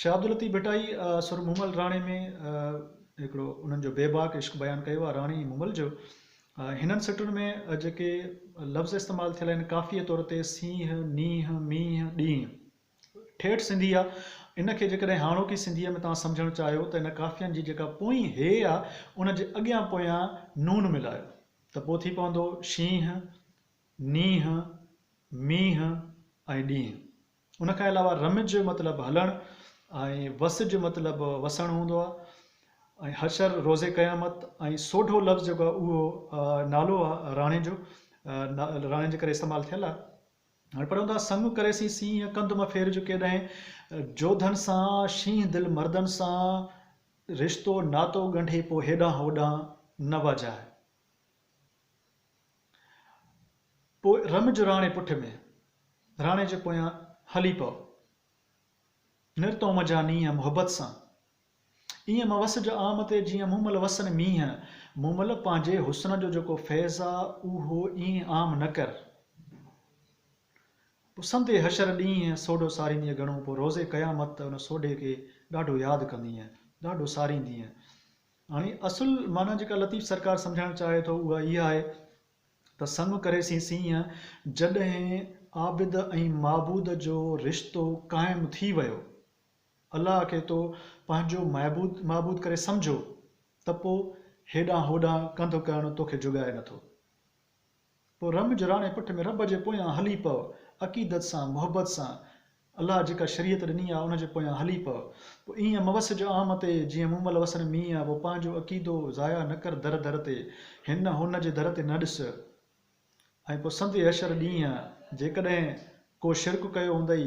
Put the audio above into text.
شاهه عبداللطيف ڀٽائي سر مومل راڻي ۾ هڪڙو انهن جو بيباڪ عشق بيان ڪيو آهي راڻي مومل جو هنن سٽن ۾ جيڪي لفظ استعمال ٿيل آهن ڪافيء طور تي سينهن، نينهن، مينهن، ڏينهن ٺيٺ سنڌي آهي ان کي جيڪڏهن هاڻوڪي سنڌيء ۾ توهان سمجهڻ چاهيو ته ان ڪافين جي جيڪا پوئين هيء آهي ان جي اڳيان پويان نون ملايو ته پوء ٿي پوندو شينهن، نينهن، مينهن ۽ ڏينهن. ان کان علاوه رمج مطلب هلڻ ۽ وسج مطلب وسڻ هوندو آهي ۽ حشر روزي قيامت ۽ سوڍو لفظ جيڪو آهي اهو نالو آهي راڻي جو راڻي جي ڪري استعمال ٿيل آهي هاڻي پڙهيون ٿا سڱ ڪري سين سينهن ڪنڌ مان ڦير جو ڪيڏانهن جوڌن سان شينهن دل مردن سان رشتو ناتو ڳنڍي پوء هيڏانهن هوڏانهن نه واجهائي پوء رم جو راڻي پٺ ۾، راڻي جي پويان هلي پئو. نر تون منجهان نينهن محبت سان، ايئن مان وس جو عام تي جيئن مون مل وسن مينهن. مون مل پنهنجي حسن جو جيڪو فيض آ، اهو ايئن عام نه ڪر. پوء سندي حشر ڏينهن سوڍو ساريندينء گهڻو، پوء روز قيامت ته ان سوڍي کي ڏاڍو ياد ڪندينء، ڏاڍو ساريندينء. هاڻي اصل معنيٰ جيڪا لطيف سرڪار سمجهائڻ چاهي ٿو اها اها آهي ته سڱ ڪري سين سينهن جڏهن عابد ۽ معبود جو رشتو قائم ٿي ويو، الله کي تو پنهنجو معبود معبود ڪري سمجهو ته پوء هيڏانهن هوڏانهن ڪنڌ ڪرڻ توکي جڳائي نٿو. پوء رم جراڻي پٺ ۾ رب جي پويان هلي پو، عقيدت سان، محبت سان، الله جيڪا شريعت ڏني آ ان جي پويان هلي پو، پوء ايئن موس جو عام تي جيئن مون مل وسن مينهن آ، پوء پنهنجو عقيدو ضايع نه ڪر در در تي، هن هن جي در تي نه ڏس، ۽ پوء سنڌ حشر ڏينهن جيڪڏهن ڪو شرڪ ڪيو هوندئي